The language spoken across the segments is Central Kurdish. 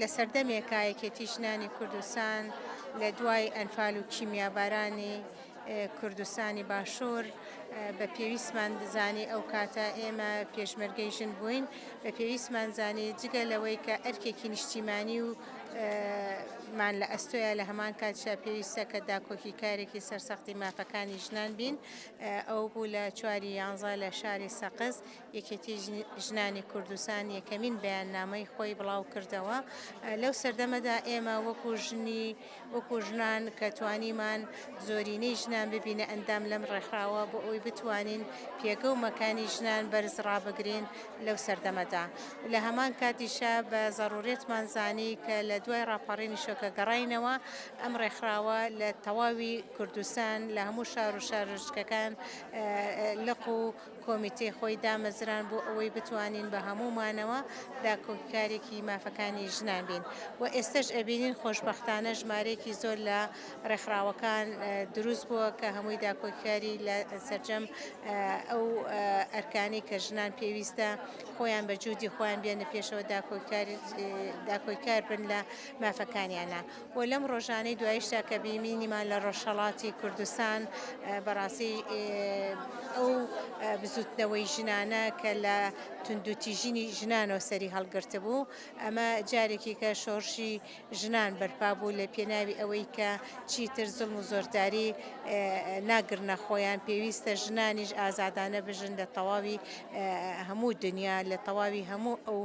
لە سەردەمێکا یەکێتی ژنانی کوردستان لە دوای ئەنفال و کیمیابارانی کوردستانی باشوور بە پێویستمان زانی ئەو کاتە ئێمە پێشمەرگەی ژن بووین بە پێویستمان زانی جگە لەوەی کە ئەرکێکی نیشتیمانی و مان لە ئەستۆیە لە هەمان کاتشا پێویستە کە داکۆکی کارێکی سەرسەختی مافەکانی ژنان بین ئەو بوو لە چواری یانزە لە شاری سەقز یەکێتی ژنانی کوردستان یەکەمین بەیاننامەی خۆی بڵاو کردەوە لەو سەردەمەدا ئێمە وەکو ژنی وەکو ژنان کە توانیمان زۆرینەی ژنان ببینە ئەندام لەم ڕێکخراوە بۆ ئەوی بتوانین پێگە و مەکانی ژنان بەرز ڕابگرین لەو سەردەمەدا لە هەمان کاتیشە بە زەڕورێتمان زانی کە لە دوای ڕاپەڕینی شۆکە گەڕینەوە ئەم ڕێکخراوە لە تەواوی کوردستان لە هەموو شار و شارۆچکەکان لق و کۆمیتەی خۆی دامەزراند بۆ ئەوەی بتوانین بە هەموو مانەوە داکۆکیکارێکی مافەکانی ژنان بین و ئێستەش ئەبینین خۆشبەختانە ژمارەیەکی زۆر لە ڕێکخراوەکان دروست بووە کە هەمووی داکۆکیکاری لە سەرجەم ئەو ئەرکانەی کە ژنان پێویستە خۆیان بە جوودی خۆیان بێنە پێشەوە داکۆکیکار بن لە مافەکانیانە. و لەم ڕۆژانەی دواییشدا کە بینیمان لە ڕۆژهەڵاتی کوردستان بەڕاستی ئەو بزووتنەوەی ژنانە کە لە توندوتیژیی ژنانەوە سەری هەڵگرتبوو، ئەمە جارێکی کە شۆڕشی ژنان بەرپا بوو لە پێناوی ئەوەی کە چیتر زوڵم و زۆرداری ناگرنە خۆیان، پێویستە ژنانیش ئازادانە بژن لە تەواوی هەموو دنیا، لە تەواوی هەموو ئەو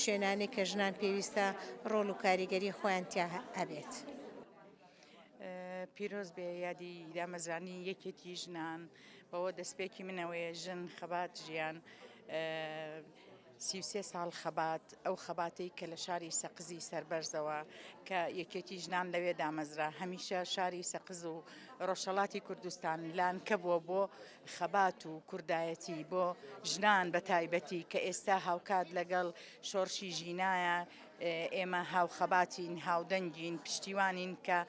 شوێنانەی کە ژنان پێویستە ڕۆڵ و کاریگەری خۆیان تیا هەبێت. پیرۆز بێ یادی دامەزرانی یەکێتی ژنان بەوە دەستپێکی منەوەیە ژن خەبات ژیان سیوسێ ساڵ خەبات ئەو خەباتی کە لە شاری سەقزی سربەرزەوە کە یەکێتی ژنان لەوێ دامەزرا هەمیشە شاری سەقز و ڕۆژەڵاتی کوردستان لان کەبووە بۆ خەبات و کوردایەتی بۆ ژنان بە تایبەتی کە ئێستا هاوکات لەگەڵ شۆڕشی ژینایە، ئێمە هاوخەباتین، هاودەنگین، پشتیوانین کە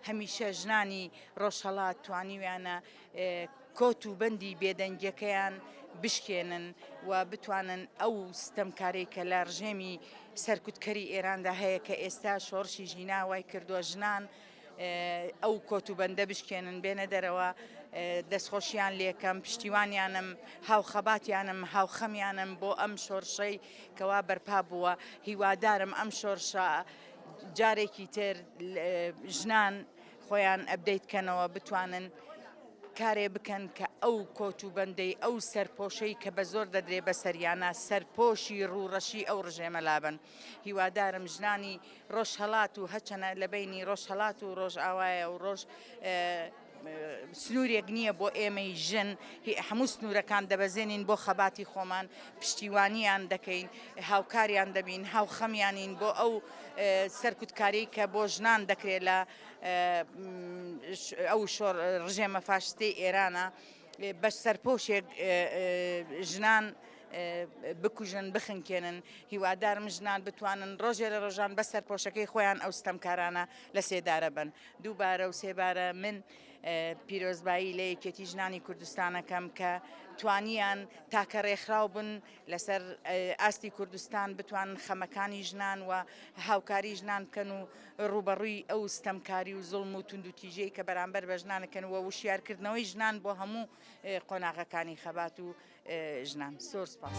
هەمیشە ژنانی ڕۆژهەڵات توانیویانە کۆت و بەندی بێدەنگیەکەیان بشکێنن و بتوانن ئەو ستەمکارەی کە لە ڕژێمی سەرکوتکەری ئێراندا هەیە کە ئێستا شۆڕشی ژینا وای کردووە ژنان ئەو کۆت و بەندە بشکێنن بێنە دەرەوە دەستخۆشیان لێکەم پشتیوانیانم هاوخەباتیانم هاوخەمیانم بۆ ئەم شۆرشەی کەوا بەرپا بووە هیوادارم ئەم شۆرشە جارێکی تر ژنان خۆیان ئەبدەیت کەنەوە بتوانن کارێ بکەن کە ئەو کۆت و بەندەی ئەو سەرپۆشەی کە بە زۆر دەدرێ بە سەریانە سەرپۆشی ڕوڕەشی ئەو ڕژێمە لابن هیوادارم ژنانی ڕۆژهەڵات و هەچەنە لە بەینی ڕۆژهەڵات و ڕۆژئاوایە و ڕۆژ سنوورێک نییە بۆ ئێمەی ژن هەموو سنوورەکان دەبەزێنین بۆ خەباتی خۆمان پشتیوانیان دەکەین هاوکاریان دەبین هاوخەمیانین بۆ ئەو سەرکوتکاری کە بۆ ژنان دەکرێت لە ئەو ڕژێمە فاشستی ئێرانە بەس سەرپۆشێک ژنان بکوژن بخنکێنن هیوادارم ژنان بتوانن ڕۆژێ لە ڕۆژان بە سەرپۆشەکەی خۆیان ئەو ستەمکارانە لە سێدارە بن دووبارە و سێبارە من پیرۆزبایی لە یەکێتی ژنانی کوردستانەکەم کە توانیان تاکە ڕێکخراو بن لەسەر ئاستی کوردستان بتوانن خەمەکانی ژنان و هاوکاری ژنان بکەن و ڕووبەڕووی ئەو ستەمکاری و زوڵم و توندوتیژیەی کە بەرامبەر بە ژنان دەکەن و وشیارکردنەوەی ژنان بۆ هەموو قۆناغەکانی خەبات و ژنان زۆر سپاس.